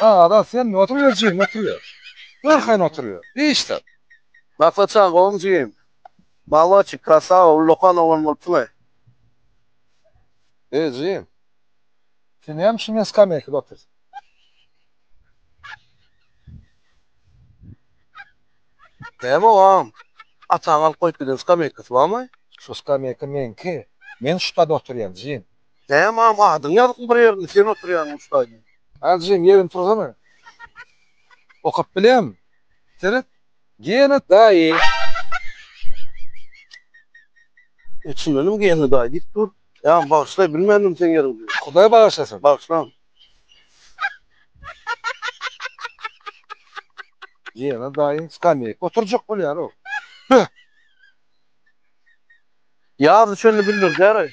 Ada sen oturyber jigim oturyber. Görkeýin oturyber. Işdir. Maslaçjan gowumy jigim. Maloçik krasawa ullakan oglan bolupsyňaý. Eý jigim. Sen näme üçin men skameýkada otursyn. Näme ogam. Ataň alyp goýup giden skameýkasy barmaý. Şu skameýka meňki. Men şu stade oturýan jigim. Däm agam adyň ýazykmy bir ýerinde sen oturýaňmy ustaýyny. Aljim ýerini tursana. Okap bilýämi? Seret. Gena daýy. E çyndanam gena daýy diýip dur. Agam bagyşlaý bilmändim seň ýeriňdi. Hudaý bagyşlasyn. Bagyşlan. Gena daýy skamýaýka oturjak bolýar o. Püh. Ýaz düşende bildirdýäraý.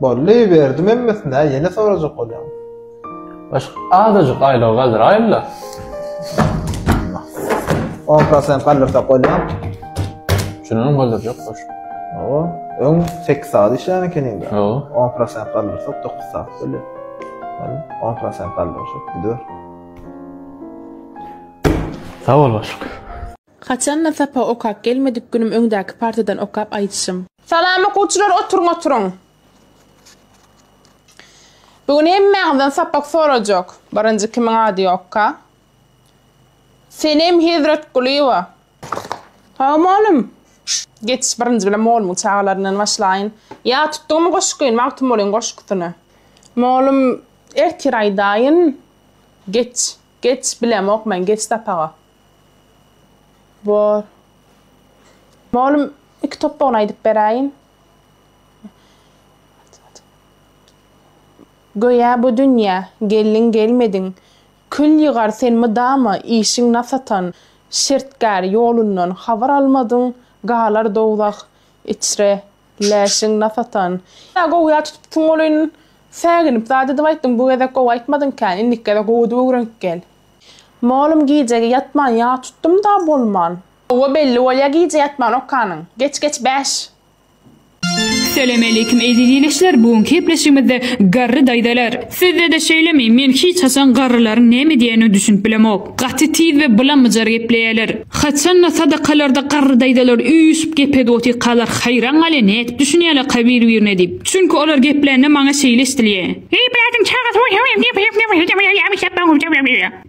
Bolly berdim hemmesine ýene sorajak bolýan. Baş azajyk aýlygy galdyraýynda. O prosen galdyrsa bolýan. Şunuň galdyrjak baş. O, öň 8 saat işlän ekeni indi. O, 10 prosen galdyrsa 9 saat bolýar. Yani 10 prosen galdyrsa gidiyor. Sağ ol başlık. Haçanda sapak okap gelmedik günüm öňdäki partadan okap aýdyşym. Salam okuwçylar oturyň oturyň. Bu gün hemmäňizden sapak sorajak. Birinji kimiň ady ýokka? Senem Hezretgulyýewa. Salam mugallym. Geçiş birinji bilen mugallymyň çagalaryndan başlaýyn. Ýat tutdygmy goşgy, Magtymgulyň goşgusyny? Mugallym ertir aýdaýyn. Geç. Geç bilemok men geç sapaga. Bor. Molum iki topbagyny aýdyp beräýin. Göýä bu dünýä geldiň gelmediň kül ýygar sen mydama işiň nasatan şertgär ýolundan habar almadyň galar dowzah Içre, läşiň nas atan. Ýa gowuýa tutupsyň welin, säginip zat edip aýtdyň, bu gezek gowy aýtmadyňkä, indiki gezek gowudyp öwrenip gel. Mallum gijegi ýatman ýag tutdum-da bolman. Howwa belli bolýa gije ýatman okanyň. Geç geç bäş. Salamaleýkim eziz ilişler bu günki gepleşigimizde Garry daýzalar. Sizde-de şeýlemi? Men hiç haçan garrylaryň näme diýenine düşünip bilemok. Gaty tiz we bylamyjar gepleýärler. Haçan-da sadakalarda garry daýzalar üýşüp gepedip otyrkalar haýran galýan nädip düşünýärlerka bir-birine diýip. Çünki olar geplände maňa şeýle eşdilýä. Eý bädiň çagasy.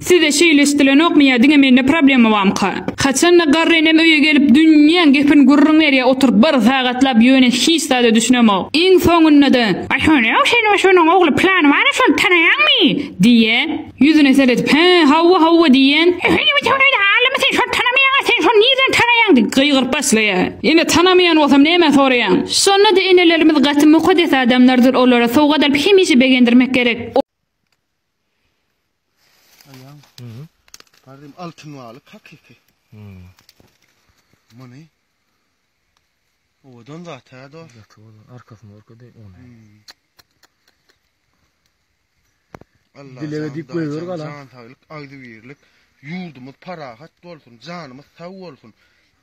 Size şeýleşdilenokmy ýa diňe mende problema bamyka? Haçanda garry enem öýe gelip dünýäň gepini gürrüň berýä oturyp bir sagatlap ýöne hiç zada düşünemok. Iň soňunda-da, Aý şonda-ow sen we şonuň ogly plany bar-a şony tanaýaňmy? diýýä. Ýüzüne seredip, Hä, hawa, hawa diýýän. Ehe ine biziň öýde allimi sen şony tanamaýaň-a sen şony nirden tanaýaň diýip gygyryp başlaýar. Ine tanamaýan bolsam nämä soraýaň? Şonda-da enelerimiz gaty mukaddes adamlardyr olara sowgat alyp hemişe begendirmek gerek. Aýaň. Mhm. Garym altyn balyk hakyky. Mhm. Muny owadan zat hä do. Ýaty bolan arkasyny orka deý ony. Mhm. Allah Dilege dip goýber gala. Jan saglyk, agzybirlik. Ýurdumyz parahat bolsun, janymyz sag bolsun.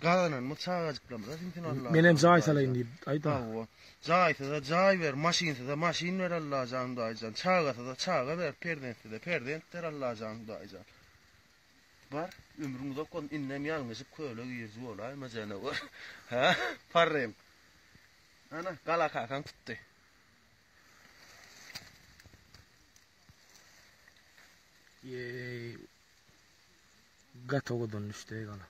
Gazanan bu çagajyklarymyza siňsin Allajan. Menem jaý salaýyn diýip aýda. Hawa. Jaýsyza jaý ber, maşynsyza maşyn ber Allajan Hudaýjan. Çagasyza çaga ber, perzentsize perzent ber Allajan Hudaýjan. Bar, ömrüň uzak bolsun, indem ýalňyşyp köle giriji bolaýma janawar. Hä, parrym. Ana, gala kakaň tutdy. Ýeý. Gaty owadan düşdi eý galam.